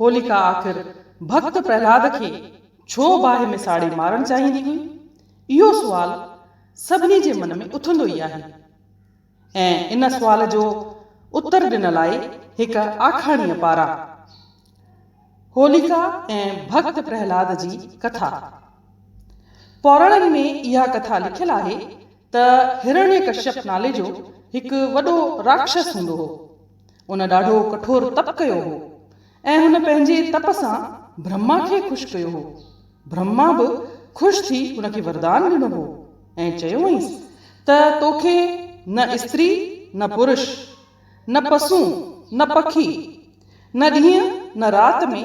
هوليڪا آخر ڀڳت پرهلاد کي ڇو باهه ۾ ساڙي مارڻ چاهيندي هئي؟ اهو سوال سڀني جي من ۾ اٿندو ئي آهي ۽ ان سوال جو اتر ڏنل آهي هڪ آکاڻيء پاران. هوليڪا ۽ ڀڳت پرهلاد جي ڪٿا. پوراڻن ۾ اها ڪٿا لکيل آهي ته هرڻيڪشپ نالي جو هڪ وڏو راڪشس هوندو هو. ان ڏاڍو ڪٺور تپ ڪيو هو ۽ هن پنهنجي تپ سان برهما کي خوش ڪيو هو. برهما به خوش ٿي هن کي وردان ڏنو هو ۽ چيو هئينس ته توکي نه استري نه پرش، نه پسون نه پکي، نه ڏينهن نه رات ۾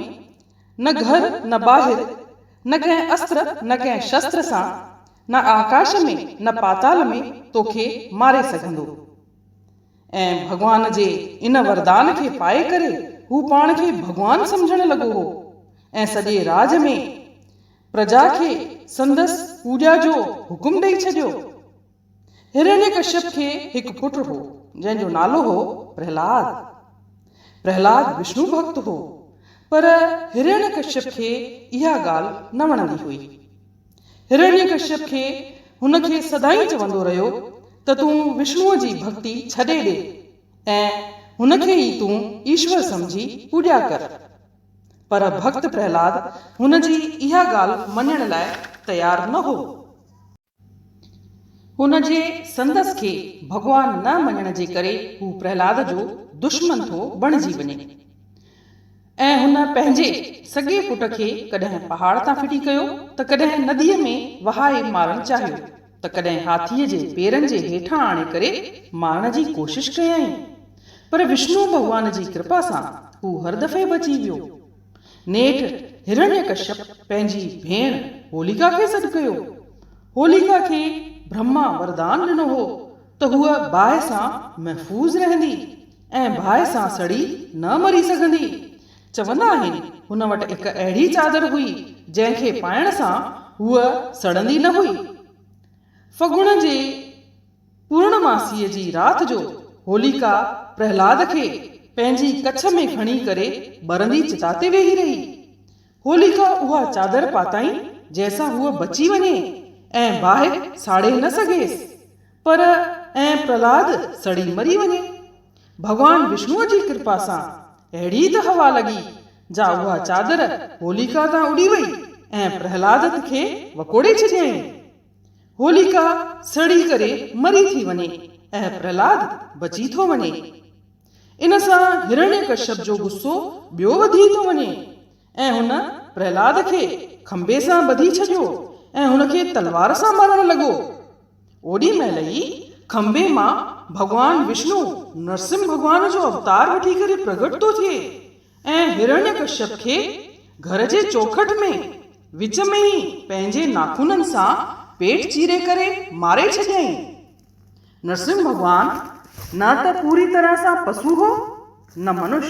نه گهر نه ٻاهر، نه ڪنهن استر نه ڪنهن شستر سان، نه آڪاش ۾ نه پاتال ۾ توکي ماري سگهندو. ۽ ڀڳوان جي ان وردان کي پائي ڪري هو پاڻ کي ڀڳوان سمجهڻ لڳو هو ۽ سڄي راڄ ۾ پرجا کي سندس پوڄا جو حڪم ڏئي ڇڏيو. هرڻيڪشپ کي هڪ پٽ هو، جنهن جو نالو هو پرهلاد. پرهلاد وشنو ڀڳت هو، پر هرڻيڪشپ کي اها ڳالهه نه وڻندي هئي. هرڻيڪشيپ کي هن کي سدائين چوندو رهيو ته تون وشنوء جي ڀڳتي ڇڏي ڏي ۽ هن کي ئي تون ايشور سمجهي پوڄا ڪر. پر ڀڳت پرهلاد هن جي اها ڳالهه مڃڻ لاء تيار نه هو. هن جي سندس کي ڀڳوان نه مڃڻ جي ڪري هو پرهلاد جو دشمن ٿو بڻجي وڃي. ۽ هن پنهنجي سڳي پٽ کي ڪڏهن پهاڙ تان ڦٽي ڪيو ته ڪڏهن نديء ۾ وهائي مارڻ چاهيو ته ڪڏهن هاٿيء جي پيرن جي هيٺان آڻي ڪري مارڻ جي ڪوشش ڪيائين پر وشنو ڀڳوان جي ڪرپا سان هو هر دفعي بچي ويو. نيٺ هرڻيڪشپ پنهنجي ڀيڻ هوليڪا کي سڏ ڪيو. هوليڪا کي برهما وردان ڏنو هو ته هوء باهه سان محفوظ رهندي. ۽ باهه سان سڙي نه مري سگهندي. چوندا آهن، هن وٽ هڪ اهڙي چادر هئي، جنهن کي پائڻ سان هوء سڙندي نه هئي. فگڻ جي پورڻماسيء جي رات جو هوليڪا پرهلاد کي پنهنجي ڪڇ ۾ کڻي ڪري ٻرندي چتا تي ويهي رهي. هوليڪا اها چادر پاتائين، جنهن سان هوء بچي وڃي ۽ باهه ساڙي نه سگهيس. پر ائين پرهلاد سڙي مري وڃي. ڀڳوان وشنوء جي ڪرپا سان اهڙي ته هوا لڳي جا اها چادر هوليڪا تان اڏي وئي ۽ پرهلاد کي وڪوڙي ڇڏيائين. هوليڪا سڙي ڪري مري ٿي وڃي ۽ پرهلاد بچي ٿو وڃي. ان سان هرڻيڪشپ جو غصو ٻيو وڌي ٿو وڃي. ۽ هن پرهلاد کي کنڀي سان ٻڌي ڇڏيو ۽ هن کي تلوار سان مارڻ لڳو. اوڏي مهل ئي کنڀي مان ڀڳوان وشنو نرسمه ڀڳوان جو اوتار وٺي ڪري پرگهٽ ٿو ٿئي ۽ هرڻيه ڪشيپ کي گهر جي چوکٺ ۾ وچ ۾ ئي پنهنجي ناخونن سان پيٽ چيري ڪري ماري ڇڏيائين. نرسمه ڀڳوان نه ته پوري طرح سان پسو هو نه منش.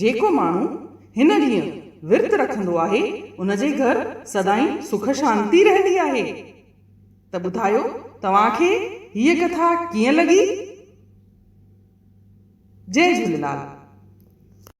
جيڪو ماڻهو هن ڏينهن ورت رکندو آهي ان جي گهر سدائين سک شانتي رهندي آهي. ته ٻڌايو توهان کي هيء ڪٿا ڪيئن لڳي؟ جئي جهوليلال.